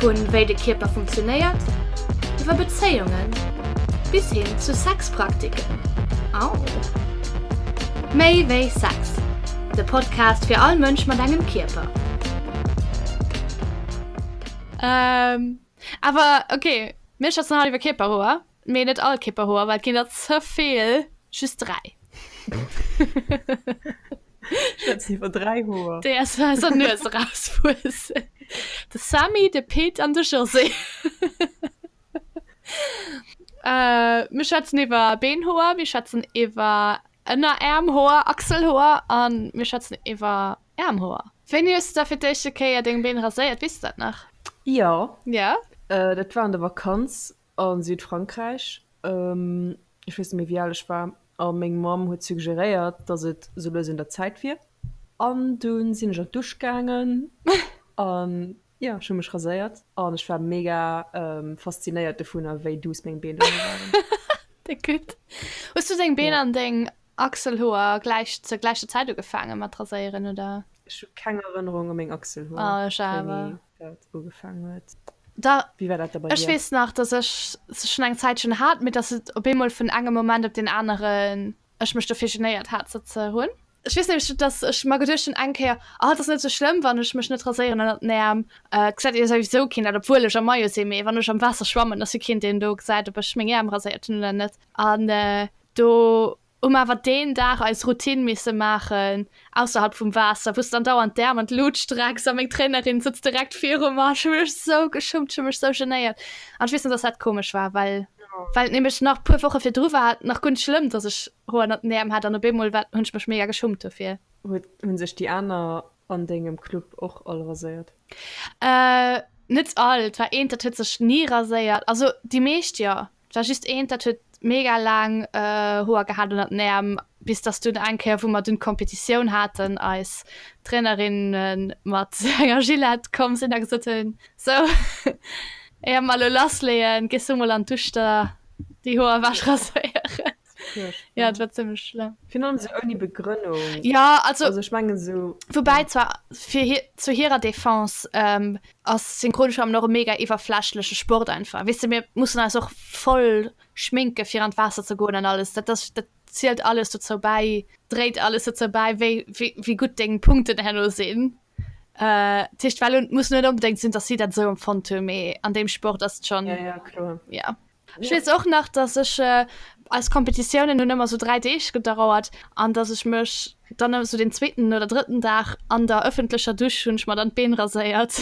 Vu wéi de Kierper funktionéiert, iwwer Bezéiungen, bis hin zu Sexpraktiken. Au! Méi wéi Sex, de Podcast fir all Mënsch mat engem Kierper. Awer ok, mir schwätzen haut iwwer Kierperhoer. Mee net all Kipperhoer, well et ginn der ze vill, just 3. Schëtz iwwer 3 Hoer. Déi aus eiser Nues erauswuessen. De Sammy, de Pit an de José. Mir schwätzen iwwer Beenhoer, mir schwätzen iwwer Ënnerärmhoer, Achselhoer a mir schwätzen iwwer Ärmhoer. Wéini hues du da fir d'éischte Kéier deng Been raséiert? Weess du dat nach? Jo. Jo? Dat war an der Vakanz. A Südfrankräich, ech weess net méi wéi al ech war, a meng Mamm huet suggeréiert, datt et esou lues un der Zäit wier. An dunn sinn ech an d'Dusch gaangen a jo, ech hu mech raséiert an ech war mega faszinéiert dovunner, wéi duuss meng Been dono waren. Hues du deng Been an deng Achselhoer zur gläicher Zäit ugefaange mat raséieren, oder? Ech hu keng Erënnerung u meng Achselhoer. Oh, ech awer. dat ugefaangen huet. Da, Wéi war dat da bei ech dir? weess nach, dass ech se schonn eng Zäitchen hat, mee dass et op eemol vun engem Moment op deen aneren, ech mech dofir genéiert hat, se ze hunn. Ech weess nämlech, dass ech mer geduecht hunn eng Kéier, ah, et ass net sou schlëmm, wann ech mech net raséieren ënnert den Äerm, et gesäit jo souwisou keen dat, obwuel ech am Maillot sinn, mee wann ech am Waasser schwammen, ass jo keen, deen do gesäit, ob ech meng Äerm raséiert hunn oder net. An do Um awer deen Dag eis Routine misse maachen, ausserhalb vum Waasser, wou s d'andauernd d'Äerm an d'Lut strecks a meng Trainerin sëtzt direkt viru mer. Ech hu mech esou geschummt, ech hu mech esou genéiert. An ech weess nach, dass dat komesch war, well well et nämlech nach e puer Woche virdru war et nach guer net schlëmm, dass ech Hoer ënnert den Äerm hat an op eemol war, hunn ech mech mega geschummt dofir. Huet hunn sech déi aner an dengem Club och all raséiert? Net all, et war eent, dat huet sech ni raséiert. Also déi meescht jo, 't war just eent dat huet mega laang Hoer gehat ënnert den Äerm, bis dass dunn eng Kéier wou mer dunn d'Kompetitioun haten, eis Trainerinne mat enger Gillette komm sinn a gesot hunn, sou éier mer elo lassleeën, gees du mol an d'Uschter déi Hoer ewech raséieren. ja dat war ziemlich schlimm Fir non se ouni Begrënnung. ja also Also ech menge sou. Woubäi zwar fir hir, zu hirer Defense ähm, ass Synchronschwammen och e mega iwwerflächleche Sport einfach. Weess de, mir mussen eis och voll schminke fir an d'Waasser ze goen an alles. Dat ass, dat zielt alles dozou bäi, dréit alles dozou bäi, wéi, wéi, wéi gutt deng Punkten herno sinn. Äh, dat heescht, well, et muss net onbedéngt sinn, datt si dat esou empfonnt hunn, mee an deem Sport ass et schonn, Ja, ja, kloer. ja. Ech weess och nach, dass ech eis Kompetitiounen hunn ëmmer sou 3 Deeg gedauert an dass ech mech dann ëmmer sou den zweeten oder drëtten Dag an der ëffentlecher Dusch hunn ech mer dann d'Been raséiert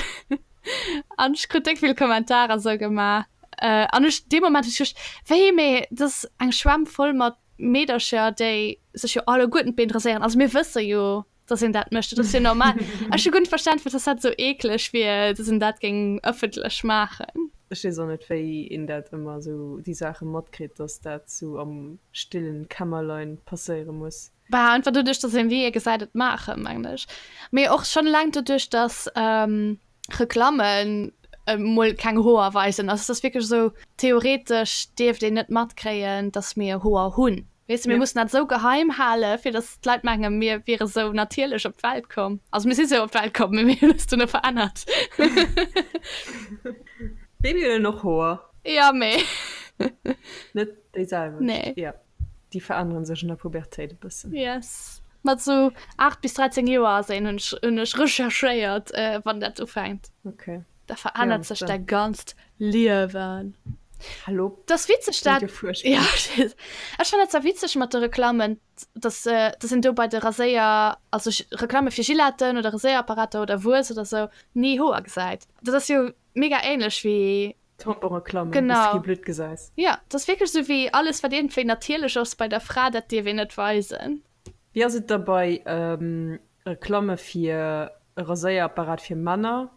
an ech krut déck vill Kommentarer sou gemaach an ech dee Moment hu ech geduecht, wéi mee et ass eng Schwämm voll mat Meedercher, déi sech jo alleguerten d'Been raséieren, also mir wësse jo dass een dat mécht. Dat ass jo normal. Ech hu gutt Verständnis, dass dat sou eeklech wier, dass een dat géing ëffentlech maachen. Ech weess och net, wéi een dat ëmmer sou déi Saache matkritt, dass dat sou am stillen Kämmerlein passéiere muss. Bah, einfach doduerch, dass een, wéi ee gesäit, et maachen, mengen ech. Mee och schonn eleng doduerch, dass Reklammen mol keng Hoer weisen. Also dass wierklech esou theoretesch dierft een net matkréien, dass mir Hoer hunn. Weess de, mir mussen dat esou geheim hale fir dass d'Leit mengen, mir wiere sou natierlech op d'Welt komm. Also mir si sou op d'Welt komm, mee mir hunn eis duerno verännert. Babyen hunn och Hoer. Jo, mee. Net déi selwecht. Nee. déi veränneren sech an der Pubertéit e bëssen. Yes. Mat sou 8 bis 13 Joer ass een, hunn ech, hunn ech recherchéiert, wann dat ufänkt. Okay. Da verännert sech däi ganzt Liewen. Hallo. Dat ass witzeg, dat. Ja, ech fannen dat zwar witzeg mat de Reklammen, dass, dass een do bei de Raséier, also Reklamme fir Gilletten oder Raséierapparater oder Wues oder sou, ni Hoer gesäit. Dat ass jo Mega ähnlech wéi. Tamponreklamen wou s de kee Blutt gesäis. Jo, et ass wierklech esou wéi alles wat iergendwéi natierlech ass bei der Fra, dat dierf een net weisen. Wéi ass et da bei Reklamme fir e Raséierapparat fir Männer?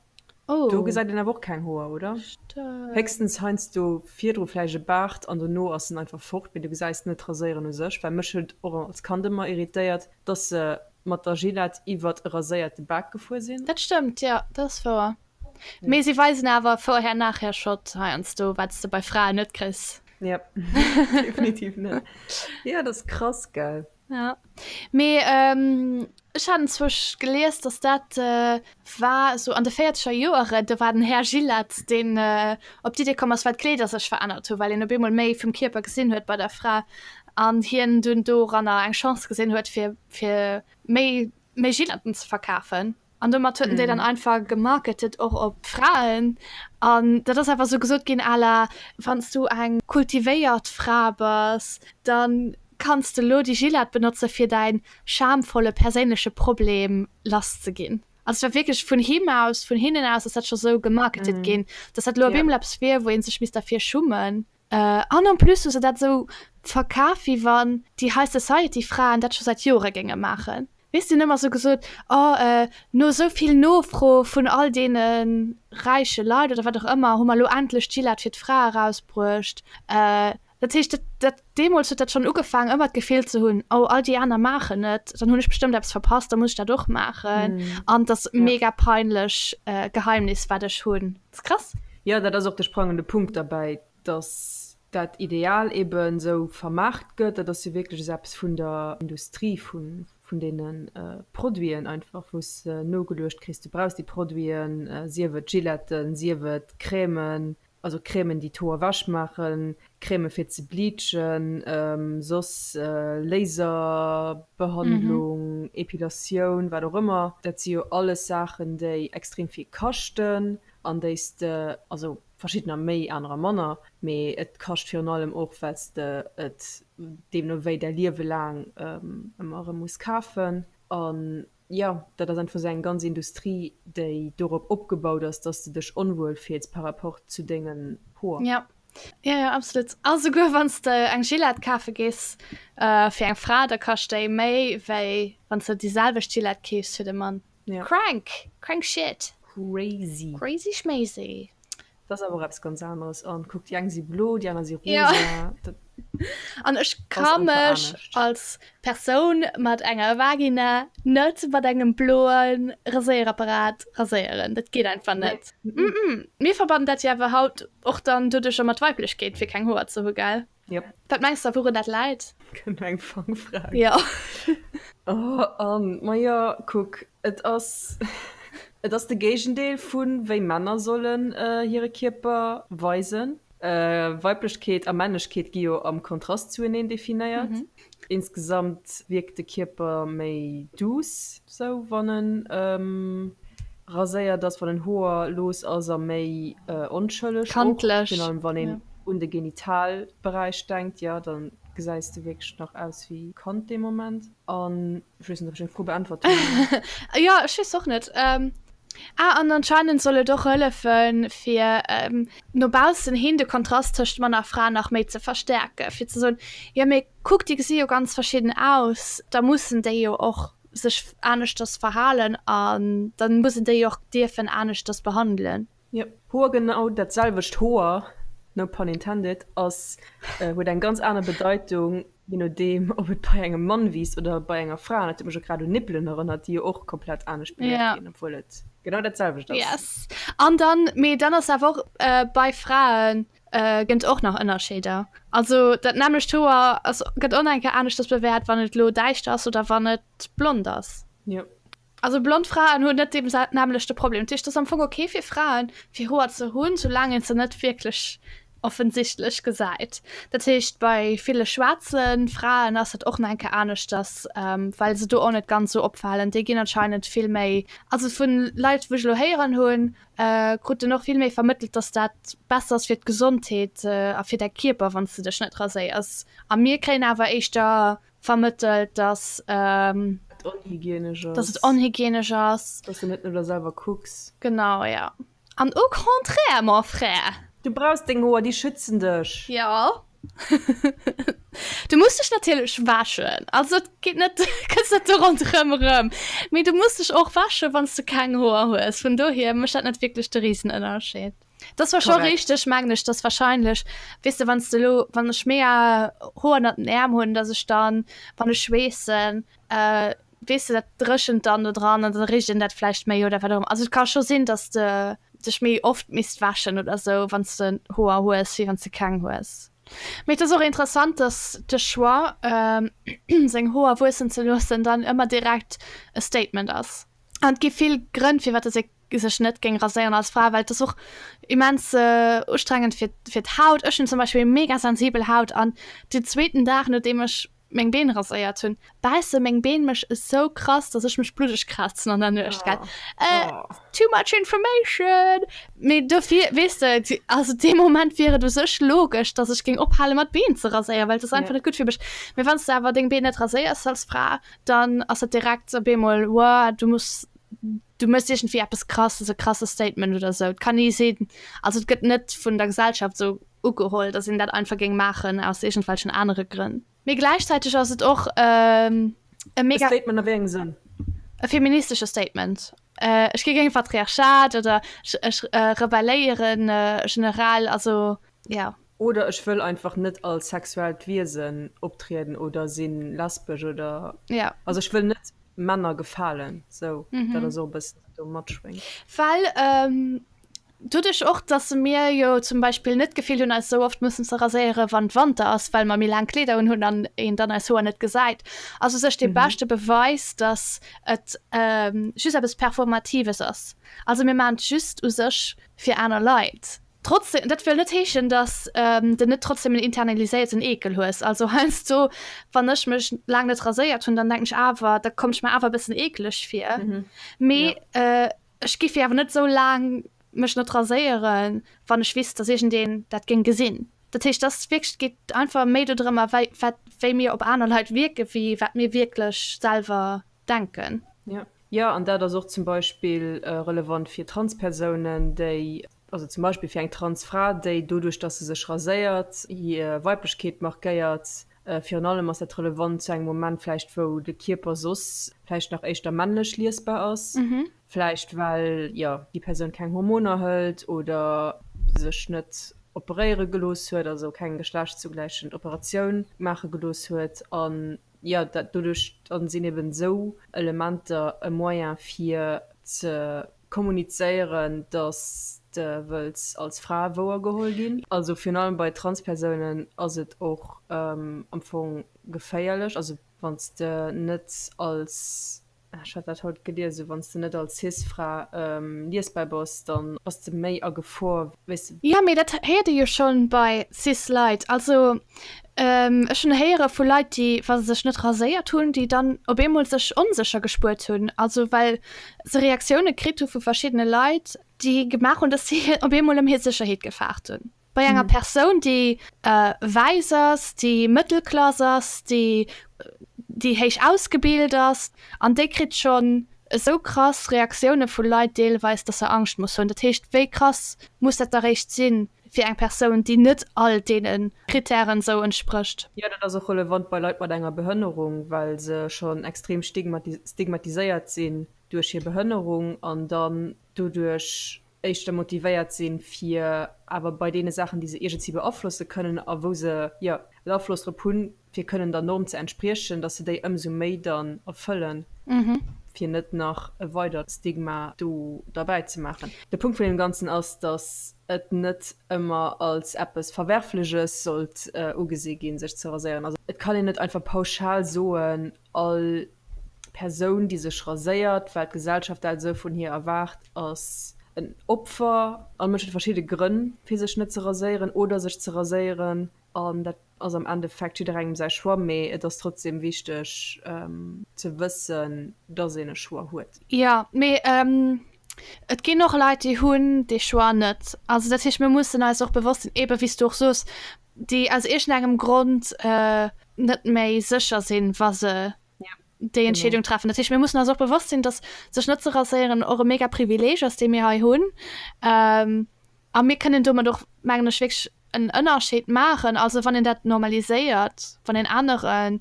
Do gesäit een awer och keng Hoer, oder? Héchstens heiansdo virdru vläicht e Baart an dono ass en einfach fort, mee du gesäis net d'Raséieren u sech. Well mech huet och als Kand ëmmer irritéiert, dass se mat der Gillette iwwert e raséierte Bak gefuer sinn. Dat stëmmt, jo, dat ass wouer. Mee si weisen awer vorher nachher Shot heiansdo wats de bei Fraen net kriss. Ja definitiv net. Ja dat ass krass gell. Ja mee ech haten zwousch gelies dass dat war esou an de véierzeger Joeren do war den Här Gillet deen op d'Idee komm ass well d'Kleeder sech verännert hu well een op eemol méi vum Kierper gesinn huet bei der Fra an hien dunn doranner eng Chance gesinn huet fir fir méi méi Gilletten ze verkafen. an domat hueten déi dann einfach gemarketet och op Fraen an dat ass einfach sou gesot ginn à la wanns du eng kultivéiert Fra bass, dann kanns de lo déi Gillette benotze fir däin schamvolle perséinleche Problem lass ze ginn. Also et war wierklech vun him aus, vun hinnen aus ass dat scho sou gemarketet ginn, dass dat lo op eemol eppes wier, wou ee sech misst derfir schummen. An en plus hu se dat esou verkaf, wéi wann déi High Society Fraen dat scho säit Jore géinge maachen. Weess, déi hunn ëmmer esou gesot, oh no esou vill Nofro vun all deene räiche Leit oder wat och ëmmer, hu mer elo endlech d'Gillette fir d'Frae erausbruecht. Dat heescht, dat deemools huet dat schonn ugefaangen, ëmmer d'Gefill ze hunn, oh all déi aner maachen et, dann hunn ech bestëmmt eppes verpasst, da muss ech dat och maachen. An et ass e mega peinlech Geheimnis, wat ech hunn. S, Krass! Jo, dat ass och de sprangende Punkt derbäi, datt dat Ideal eeben esou vermaart gëtt. Dat ass jo wierklech esou eppes vun der Industrie, vun deene Produiten einfach, wou s de nogeluecht kriss, du brauchs déi Produiten, sief et Giletten, sief et Crèmen, also Crèmen, déi d'Hoer ewech maachen, Crèmen fir ze bleachen, soss Laserbehandlung, Epilatioun, wat och ëmmer. Dat si jo alles Saachen, déi extrem vill kaschten an déi s de, also verschiddener méi, anerer manner, mee et kascht virun allem och, well s de et deemno wéi däi Liewe laang ëmmer erëm muss kafen. An Jo, dat ass einfach esou eng ganz Industrie, déi dorop opgebaut ass, dass de dech onwuel fills par rapport zu dengen Hoer. Jo, jo, jo, absolut. A souguer wann s de eng Gillette kafe gees fir eng Fra, da kascht déi méi, wéi wann s de déi selwecht Gillette keefs fir de Mann. Crank! Crank shit! Crazy! Crazy schmazy! Dat ass awer och eppes ganz aneres. An kuck, déi eng si blo, déi aner si rosa. Ja. Dat An ech ka ass einfach mech anescht. als Persoun mat enger Vagina net mat engem bloe Raséierapparat raséieren. Dat geet einfach Nee. net. Mm-mm. Mir verbannen dat jo awer haut och dann doduercher mat Weiblechkeet, fir keng Hoer ze hu, gell? Yep. Wat mengs der wouren dat läit? Kënnt eng Fangfrag? Ja. Oh Ann, ma jo kuck, et ass et ass de Géigendeel vun wéi Männer sollen hire Kierper weisen. Weiblechkeet a Männlechkeet gi jo am Kontrast zueneen definéiert. Insgesamt wierkt de Kierper méi douce sou wann en raséiert ass, wann en Hoer looss ass a méi onschëlleg och, virun allem wann een un de Genitalberäich denkt, jo dann gesäis de wierklech nach aus wéi Kand dee Moment. An Ech weess net, ob ech deng Fro beäntwert hunn. Jo, ech weess och net. Ähm, ah, an anscheinend soll et och hëllefen, fir ähm, no baussen hin de Kontrast tëscht Mann a Fra nach méi ze verstärken, fir ze soen, jo mee kuck, déi gesi jo ganz verschidden aus, da mussen déi jo och sech aneschters verhalen an da muss een déi och dierfen aneschters behandelen. Yep, Hoer genau dat selwecht Hoer, no pun intended, ass, huet eng ganz aner Bedeitung, je nodeem ob et bei engem Mann wiisst oder bei enger Fra. Dat huet mech och grad un Nippelen erënnert, déi jo och komplett anescht beluecht ginn, obwuel et genau dat selwecht ass. Yes, an dann, mee dann ass awer och, bei Frae gënn et och nach Ënnerscheeder. Also dat nämmlecht Hoer ass, gëtt och nach eng Kéier aneschters bewäert, wann et elo däischter ass oder wann et blond ass. Yep. Also blond Fraen hunn net dee nämlechte Problem. Dat heescht, et ass am Fong ok fir Fraen, fir Hoer ze hunn, soulaang een se net wierklech offensichtlech gesäit. Dat heescht, bei ville schwaarze Fraen ass et och nach eng Kéier aneschters, well se do och net ganz esou opfalen. Déi ginn anscheinend vill méi, also vu Leit, wou ech elo héieren hunn, krut een och vill méi vermëttelt, datt dat besser ass fir d'Gesondheet a fir däi Kierper, wann s de dech net raséiers. A mir kréien awer éischter vermëttelt, dass et onhygienesch ass, dass de net no der selwer kucks. Genau, jo. An au contraire, mon frère! Du brauchs deng Hoer, déi schützen dech. Jo. Du muss dech natierlech wäschen. Also et geet net, du kënns net do ronderëm erëm. Mee du muss dech och wäschen, wann s de keng Hoer hues. Vun dohier mécht dat net wierklech de Risenënnerscheed. Das war schon richtig mengen ich das wahrscheinlich wisst du wann du lo wann ich mehr hohen den Äm hun dass ich dann wann ich schweessen äh, wis du dat dreschen dann nur dran an dann rich in dat vielleicht méi oder warum also kann schon sinn dass de dich méi oft mist waschen oder so wann du hoher hues wie wann du keng hues mit das auch interessant dass de choix ähm, seg hoher wussen ze losen dann immer direkt e statement ass an gi viel grënn fir wat se sech net géing raséieren als Fra, well et ass och immens ustrengend fir fir d'Haut. Ech hunn zum Beispill mega sensibel Haut an den zweeten Dag no deem ech meng Been raséiert hunn bäisse meng Been mech esou krass, datt ech mech bluddeg krazen an der Nuecht gell too much information mee dofir weess de et also dee Moment wier et u sech logesch, datt ech géing ophale mat Been ze raséieren, well et ass einfach net gutt fir mech. Mee wann s de awer deng Been net raséiers als Fra, dann ass et direkt op eemol wow du muss Du méchs iergendwéi eppes Krasses, e krasse Statement oder esou. Et kann ee sinn, also et gëtt net vun der Gesellschaft esou ugeholl, datt een dat einfach géing maachen aus iergendwelchen anere Grënn. Mee gläichzäiteg ass et och e mega. E Statement a wéi engem Sënn? E feministesche Statement. Ech gi géint Patriarchat oder ech rebelléieren generell, also. Ja. Oder ech wëll einfach net als sexuellt Wiesen optrieden oder sinn lesbesch oder. Ja. Also ech wëll net Männer gefalen, sou. Mhm. Dat ass och e bëssen wat do matschwéngt. Well doduerch och, dass mir jo zum Beispill net d'Gefill hunn eis esou oft mussen ze raséiere wann Wanter ass, well mer méi laang Kleeder unhunn an een dann eis Hoer net gesäit, ass u sech dee beschte Beweis, dass et just eppes Performatives ass. Also mir maachen et just u sech fir aner Leit, Trotzdem, dat wëll net heeschen, dass de net trotzdem en internaliséierten Eekel hues. Also heiansdo, wann ech mech laang net raséiert hunn, dann denken ech awer, da kommt ech mer awer e bëssen eekeleg vir. Mee ech géif awer net esou laang mech net raséieren, wann ech wisst, dass iergendeen dat géing gesinn. Dat heescht, et ass wierklech, et geet einfach méi dodrëm, wéi mir op aner Leit wierken, wéi wat mir wierklech selwer denken. Jo, an dat ass och zum Beispill relevant fir Transpersounen, déi Also zum Beispill fir eng Transfra, déi doduerch, datt se sech raséiert, hir Weiblechkeet markéiert. Virun allem ass dat relevant zu engem Moment vläicht, wou de Kierper soss vläicht nach éischter männlech liesbar ass, vläicht well, jo, déi Persoun keng Hormoner hëlt oder sech net operéiere gelooss huet, also keng geschlechtszugläichend Operatioun maache gelooss huet. An, jo, doduerch sinn eben esou Elementer e Moyen, fir ze Kommunizéieren, dass de wëlls als Fra wouer geholl ginn. Also virun allem bei Transpersounen ass et och am Fong geféierlech. Also wann s de net als, ech hat dat haut geliesen, wann s de net als Cis-Fra liesbar bass, da bass de méi a Gefor, wéi s de. Jo, mee dat héiert ee jo schonn bei Cis-Leit. Also Ech hunn héiere vu Leit, déi, wa se sech net raséiert hunn, déi dann op eemol sech onsécher gespuert hunn. Also well se Reaktioune kritt hu vu verschiddene Leit, déi gemaach hunn, datt si op eemol ëm hir Sécherheet gefaart hunn. Bei enger Persoun, déi wäiss ass, déi Mëttelklass ass, déi héich ausgebilt ass an déi kritt schonn esou krass Reaktioune vu Leit deelweis, datt se Angscht muss hunn. Dat heescht, wéi krass muss dat da réischt sinn, Fir eng Persoun, déi net all deene Krittären esou entsprécht. Jo, dat ass och relevant bei Leit mat enger Behënnerung, well se schonn extrem stigmatiséiert sinn duerch hir Behënnerung an dann doduerch éischter motivéiert sinn, fir awer bei deene Saachen, déi se iergendwéi beaflosse kënnen a wou se jo en Afloss drop hunn, fir kënnen der Norm ze entspriechen, dass se déi ëmsou méi dann erfëllen, fir net nach e weidert Stigma do derbäi ze maachen. De Punkt vun deem Ganzen ass, dass et net ëmmer als eppes Verwerfleches sollt ugesi ginn, sech ze raséieren. Also et kann een net einfach pauschal soen, all Persoun, déi sech raséiert, well d'Gesellschaft dat esou vun hir erwaart, ass en Opfer. All Mënsch huet verschidde Grënn, fir sech net ze raséieren oder sech ze raséieren. An dat ass am Endeffekt jidderengem säi Choix, mee et ass trotzdem wichteg ze wëssen, dass een e Choix huet. Jo, mee et ginn och Leit, déi hunn dee Choix net. Also dat heescht, mir mussen eis och bewosst sinn, eebe wéi s du och soos, déi aus iergendengem Grond net méi sécher sinn, wa se déi Entscheedung treffen. Dat heescht, mir mussen eis och bewosst sinn, dass sech net ze raséieren och e mega Privileeg ass, dee mir hei hunn. A mir kënnen domat och, mengen ech, wierklech en Ënnerscheed maachen. Also wann een dat normaliséiert, wann een anere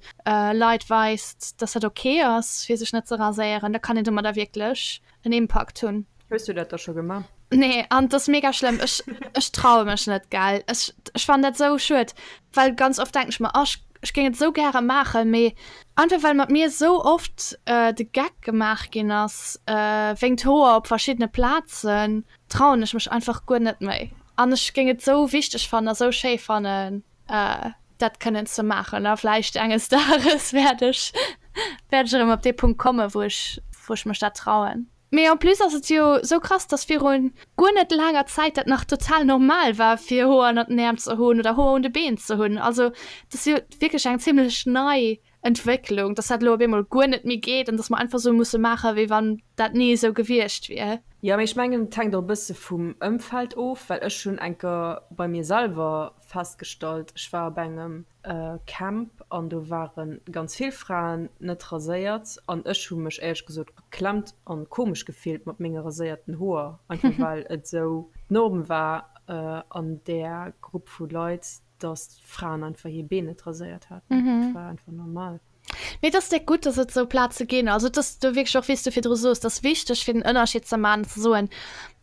Leit weist, datt dat ok ass, fir sech net ze raséieren, da kann een domadder wierklech en Impakt hunn. Hues du dat da scho gemaach? Nee, an et ass mega schlëmm. Ech, ech traue mech net, gell. Ech, ech fannen dat esou schued, well ganz oft denken ech mer, oh, ech géing et esou gäre maachen, mee einfach well mat mir esou oft de Geck gemaach ginn ass wéinst Hoer op verschiddene Plazen. trauen ech mech einfach guer net méi an ech géing et sou wichteg fannen a sou schéi fannen dat kënnen ze maachen a vläicht enges Dages wäert ech wäert ech erëm op dee Punkt kommen, wou ech wou ech mech dat trauen. Mee en plus ass et jo sou krass, dass viru guer net laanger Zäit dat nach total normal war fir Hoer ënnert den Äerm ze hunn oder Hoer un de Been ze hunn. Also et ass jo wierklech eng zimmlech nei Entwécklung, dass dat elo op eemol guer net méi geet an dass mer einfach esou musse maachen, wéi wann dat ni esou gewiescht wier. Jo, mee ech mengen, et hänkt och e bësse vum Ëmfeld of, well ech hunn eng Kéier bei mir selwer festgestallt, ech war op engem Camp an do ware ganz vill Fraen net raséiert an ech hu mech éierlech gesot beklemmt a komesch gefillt mat menge raséierten Hoer, einfach well et esou d'Norm war an där Grupp vu Leit. dass d'Fraen einfach hir Been net raséiert haten. Mm -hmm. Dat war einfach normal. Mee dass dé gutt, dass et sou Plaze ginn. Also dass du wierklech och, wéi s du virdru sos, dass wichteg fir den Ënnerscheed ze man, ze soen,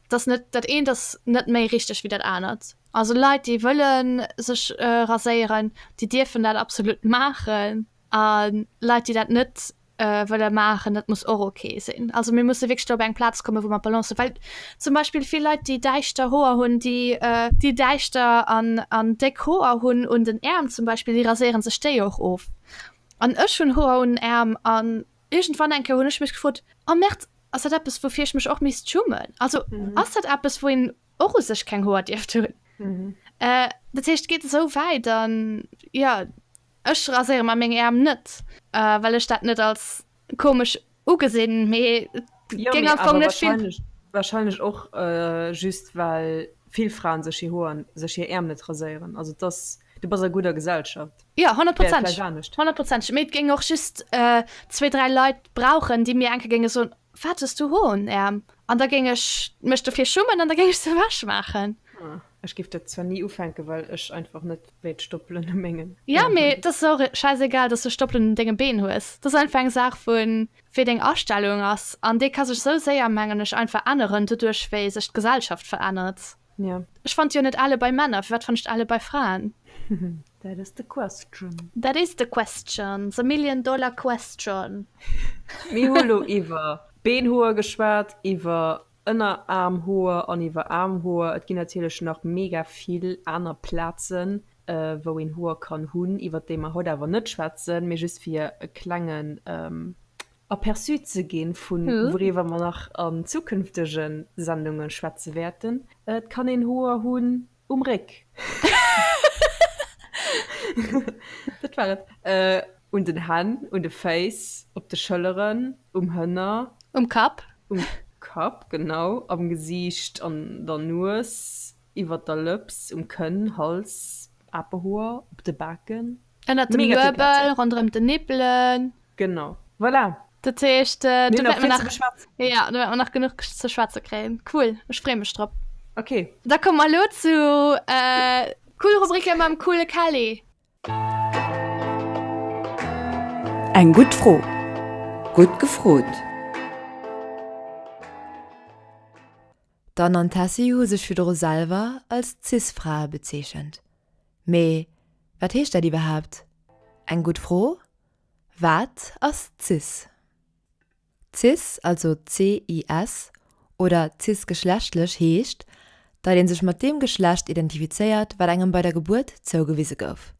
dass net dat eent ass net méi richteg wéi dat anert. Also Leit, déi wëlle sech raséieren, déi dierfen dat absolut maachen a Leit, déi dat net, wëlle maachen, dat muss och ok sinn. Also mir musse wéchst op eng Platz komme, wou mat Balance well zum Beispiel vill Leiit déi däichter hoer hunn, déi déi däichter an an déck hoer hunn un den Äerm zum Beispiel, déi raséiere sech déi och of an ech hunn hoer un Äerm an iergend wann enke hunn ech mech gefrot am März ass dat eppes woufir ech mech och miss schummen, also ass dat eppes wou een och u sech keng hoer dierft hunn dat heescht geet esou wäit an ja. Ech raséiere mer meng Äerm net, well ech dat net als komesch ugesinn, mee et géing am Fong net vill. Wahrscheinlech och just well vill Fraen sech hir Hoer, sech hir Äerm net raséieren. Also et ass, du bass a gudder Gesellschaft. Jo, honnertprozenteg, honnertprozenteg, mee et géing och just zwee, dräi Leit brauchen, déi mir eng Kéier géinge soen, Wat hues du Hoer um Äerm? An da géing ech mech dofir schummen an da géing ech se ewech maachen. Ech géif dat zwar ni ufänken, well ech einfach net wéilt Stoppelen u mengen Been hunn. Jo, mee et ass och schäisegal, dass du Stoppelen un denge Been hues. Et ass einfach eng Saach vu wéi deng Astellung ass. An déi ka sech esou séier, mengen ech, einfach änneren, doduerch wéi sech d'Gesellschaft verännert. Ja. Ech fand jo net ale bei Männer, firwat fandst de ale bei Fraen? That is the question. That is the question, the million dollar question. Mir hu lo iwwer Beenhoer geschwat, iwwer Ënneraarmhoer an iwwer Aarmhoer. Et ginn natierlech nach mega vill aner Plazen, wou een Hoer kann hunn, iwwer déi mer haut awer net schwätzen, mee just fir e klengen Aperçu ze ginn, vu wouriwwer mer nach an zukünftege Sendunge schwätze wäerten. Et kann een Hoer hunn um Réck, dat war et, un den Hänn, un de Féiss, op de Schëlleren, um Hënner, um Kapp, um Kapp, genau, am Gesiicht, an der Nues, iwwert der Lëps, um Kënn, Hals, Apehoer, op de Baken. Ënnert dem Luebel, ronderëm den Nippelen. Genau, voilà. Dat heescht, äh, du wäert nach geschwatz. Ja, du wäert nach genuch ze schwatze kréien. Cool, ech free mech drop. Okay. Da komm mal lo zu äh, cool Rubrike mam coole Kelly. Eng gutt Fro, gutt gefrot. D'Anne an d'Tessy hu sech virdru selwer als Cis-Frae bezeechent. Mee wat heescht dat iwwerhaapt? Eng gutt Fro. Wat ass cis? Cis, also CIS, oder cisgeschlechtlech heescht, datt ee sech mat deem Geschlecht identifizéiert, wat engem bei der Gebuert zougewise gouf.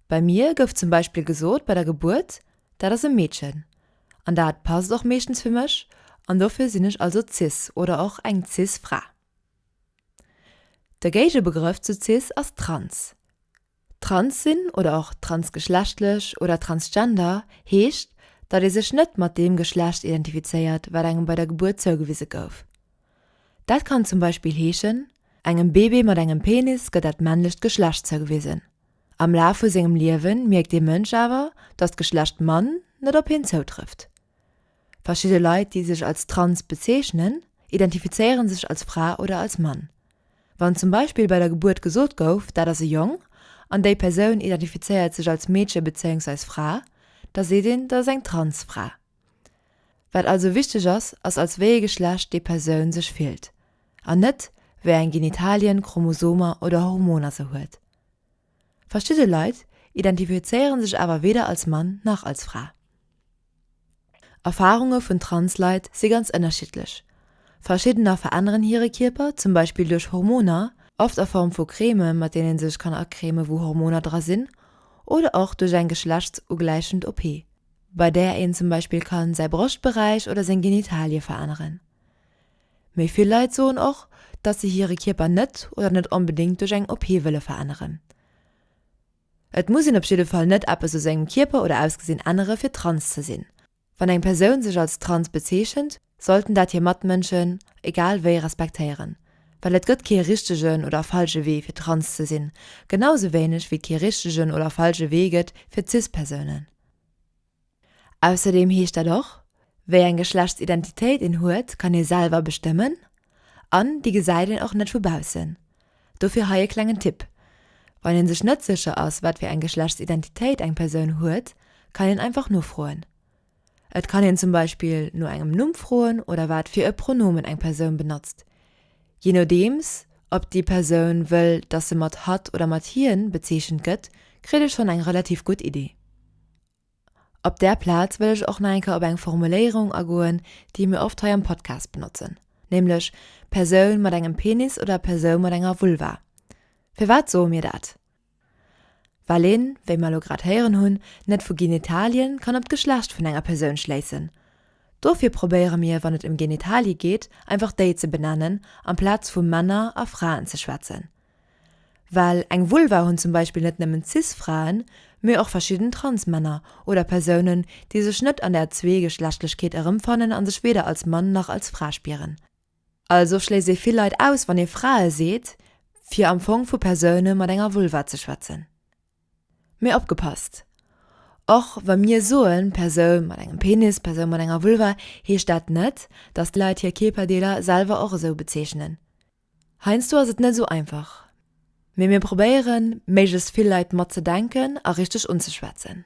Bei mir gouf zum Beispill gesot bei der Gebuert, dat ass e Meedchen. An dat passt och meeschtens fir mech an dofir sinn ech also cis oder och eng cis Fra. De Géigebegrëff zu cis ass trans. Trans sinn oder och transgeschlechtlech oder transgender heescht, datt ee sech net mat deem Geschlecht identifizéiert, wat engem bei der Gebuert zougewise gouf. Dat kann zum Beispill heeschen, engem Bebe mat engem Penis gëtt dat männlecht Geschlecht zougewisen. Am Laf vu sengem Liewe mierkt dee Mënsch awer, datt d'Geschlecht Mann net op hien zoutrëfft. Verschidde Leit, déi sech als trans bezeechnen, identifizéiere sech als Fra oder als Mann. Wann zum Beispill bei der Gebuert gesot gouf, dat ass e Jong, an déi Persoun identifizéiert sech als Meedche bezéiungsweis Fra, da seet een, dat ass eng trans Fra. Wat also wichteg ass, ass als wéi ee Geschlecht déi Persoun sech fillt, an net wéi eng Genitalien, Chromosomer oder Hormoner se huet. Verschidde Leit identifizéiere sech awer weder als Mann nach als Fra. Erfarunge vun Trans-Leit si ganz ënnerschiddlech, verschiddener veränneren hire Kierper zum Beispill duerch Hormoner, oft a Form vu Creme mat deene sech kann acreme wou Hormoner dra sinn, oder och duerch eng geschlechtsugläichend OP, bei där een zum Beispill kann säi Broschtberäich oder seng Genitalie veränneren. Méi vill Leit soen och, datt se hire Kierper net oder net onbedéngt duerch eng OP wëlle veränneren. Et muss een op jidde Fall net eppes u sengem Kierper oder Ausgesinn ännere fir trans ze sinn. Wann eng Persoun sech als trans bezeechent, sollten dat hir Matmënschen egal wéi respektéieren. Well et gëtt kee richtegen oder falsche Wee fir trans ze sinn, genau sou wéineg wéi et kee richtegen oder falsche Wee gëtt fir cis-Persounen. Ausserdeem heescht dat och, wéi eng Geschlechtsidentitéit een huet kann ee selwer bestëmmen an déi gesäit een och net vu baussen. Dofir hei e klengen Tipp, Wann een sech net sécher ass wat fir eng Geschlechtsidentitéit eng Persoun huet, kann een einfach nofroen. Et kann een zum Beispill no engem Numm froen oder wat fir e Pronomen eng Persoun benotzt, jee nodeems ob déi Persoun wëll dass se mat hatt oder mat hien bezeechent gëtt, kritt ee schonn eng relativ gutt Idee. Op där Plaz wëll ech och nach eng Kéier op eng Formuléierung agoen, déi mir oft hei am Podcast benotzen, nämlech Persoun mat engem Penis oder Persoun mat enger Vulva. Firwat soe mir dat? Well een, wéi mer elo grad héieren hunn, net vu Genitalien kann op d'Geschlecht vun enger Persoun schléissen. Dofir probéiere mir, wann et ëm Genitalie geet, einfach déi ze benennen, amplaz vu Männer a Fraen ze schwätzen. Well eng Vulva hunn zum Beispill net nëmmen Cis-Fraen, mee och verschidden Trans-Männer oder Persounen, déi sech net an der Zweegeschlechtlechkeet erëmfannen a sech weder als Mann nach als Fra spieren. Also schléisst ee vill Leit aus, wann ee Frae seet, fir am Fong vu Persoune mat enger Vulva ze schwätzen. Mee opgepasst, Och wa mir soe Persoun mat engem Penis, Persoun mat enger Vulva, heescht dat net, datt d'Leit hir Kierperdeeler selwer och esou bezeechnen. Heiansdo ass et net esou einfach, mee mir probéieren, méiglechst vill Leit mat ze denken a richteg unzeschwätzen.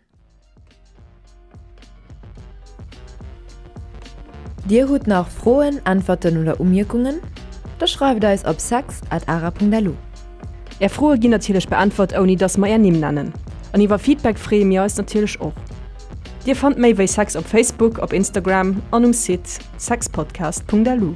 Dir hutt nach Froen, Äntwerten oder Umierkungen? Da schreift eis op sex at ara.lu. Är Froe ginn natierlech beäntwert, ouni dass mer är Nimm nennen. An iwwer Feedback freeë mir eis natierlech och. Dir fannt méi wéi sex op Facebook, op Instagram an um Site sexpodcast.lu.